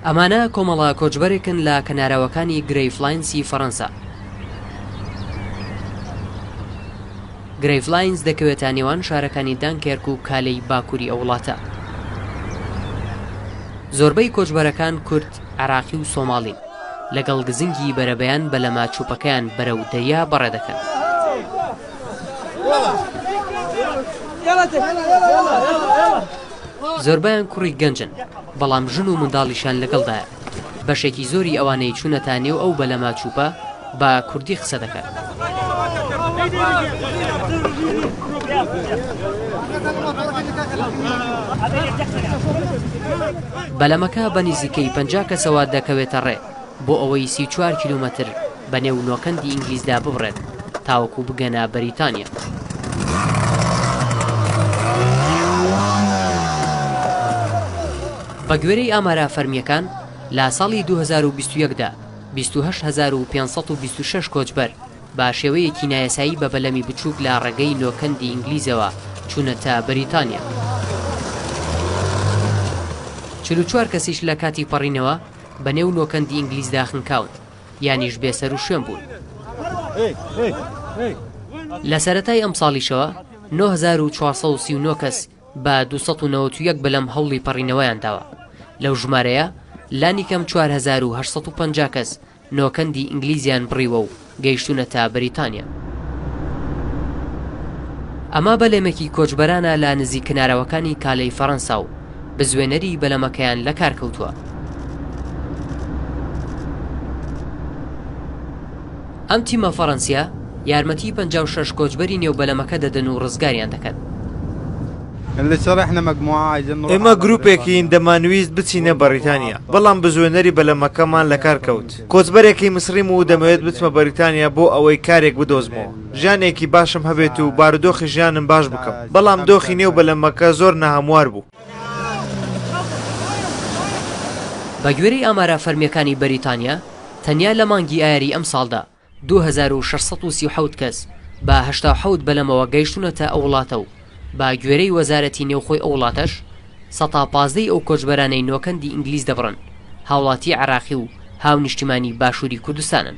ئەمانە کۆمەڵە کۆچبەرێکن لە کەناراوەکانی گرەیڤلاینسی فەرەنسا. گرەیڤلاینس دەکەوێتە نێوان شارەکانی دانکێرک و کالێی باکووری ئەو وڵاتە. زۆربەی کۆچبەرەکان کورد، عێراقی و سۆماڵین. لەگەڵ گزنگی بەرەبەیان بەلەمە چووپەکەیان بەرەو دەریا بەڕێ دەکەن. زۆربەیان کوڕی گەنجن بەڵام ژن و منداڵیشیان لەگەڵدایە، بەشێکی زۆری ئەوانەی چونەتە نێو ئەو بەلەمە چوپە بە کوردی قسە دەکەن. بەلەمەکە بە نزیکەی پەنجا کەسەوە دەکەوێتە ڕێ. بۆ ئەوەی سی و چوار کیلۆمەتر بە نێو نۆکەندی ئینگلیزدا ببڕێت تاوەکو بگەنە بەریتانیا. بە گوێرەی ئامارە فەرمییەکان، لە ساڵی دوو هەزار و بیست و یەک دا بیست و هەشت هەزار و پێنج سەد و بیست و شەش کۆچبەر بە شێوەیەکی نایاسایی بە بەلەمی بچووک لە ڕێگەی نۆکەندی ئینگلیزەوە چوونەتە بەریتانیا. چل و چوار کەسیش لە کاتی پەڕینەوە بە نێو نۆکەندی ئینگلیزدا خنکاون، یانیش بێ سەر و شوێن بوون. لە سەرەتای ئەمساڵیشەوە نۆ هەزار و چوار سەد و سی و نۆ کەس بە دوو سەد و نەوەت و یەک بەلەم هەوڵی پەڕینەوەیان داوە، لەو ژمارەیە لانیکەم چوار هەزار و هەشت سەد و پەنجا کەس نۆکەندی ئینگلیزیان بڕیوە و گەیشتونەتە بریتانیا. ئەمە بەلەمێکی کۆچبەرانە لە نزیک کنارەوەکانی کالێی فەرەنسا و بزوێنەری بەلەمەکەیان لەکارکەوتووە. ئەم تیمە فەرەنسیە یارمەتی پەنجا و شەش کۆچبەری نێو بەلەمەکە دەدەن و ڕزگاریان دەکەن. ئێمە گروپێکین دەمانویست بچینە بەڕیتانیا، بەڵام بزوێنەری بەلەمەکەمان لەکارکەوت. کۆچبەرێکی میسڕیم و دەمەوێت بچمە بەریتانیا بۆ ئەوەی کارێک بدۆزمەوە ژیانێکی باشم هەبێت و بارودۆخی ژیانم باش بکەم، بەڵام دۆخی نێو بەلەمەکە زۆر ناهەموار بوو. بەگوێرەی ئامارە فەرمییەکانی بەریتانیا، تەنیا لە مانگی ئایاری ئەمساڵدا دوو هەزار و شەش سەد و سی و حەوت کەس بە هەشتا و حەوت بەلەمەوە گەیشتوونەتە ئەو وڵاتە و، بە گوێرەی وەزارەتی نێوخۆی ئەو وڵاتەش، سەتا پازدە ی ئەو کۆچبەرانەی نۆکەندی ئینگلیز دەبڕن، هاوڵاتی عێراقی و هاونیشتیمانی باشووری کوردستانن.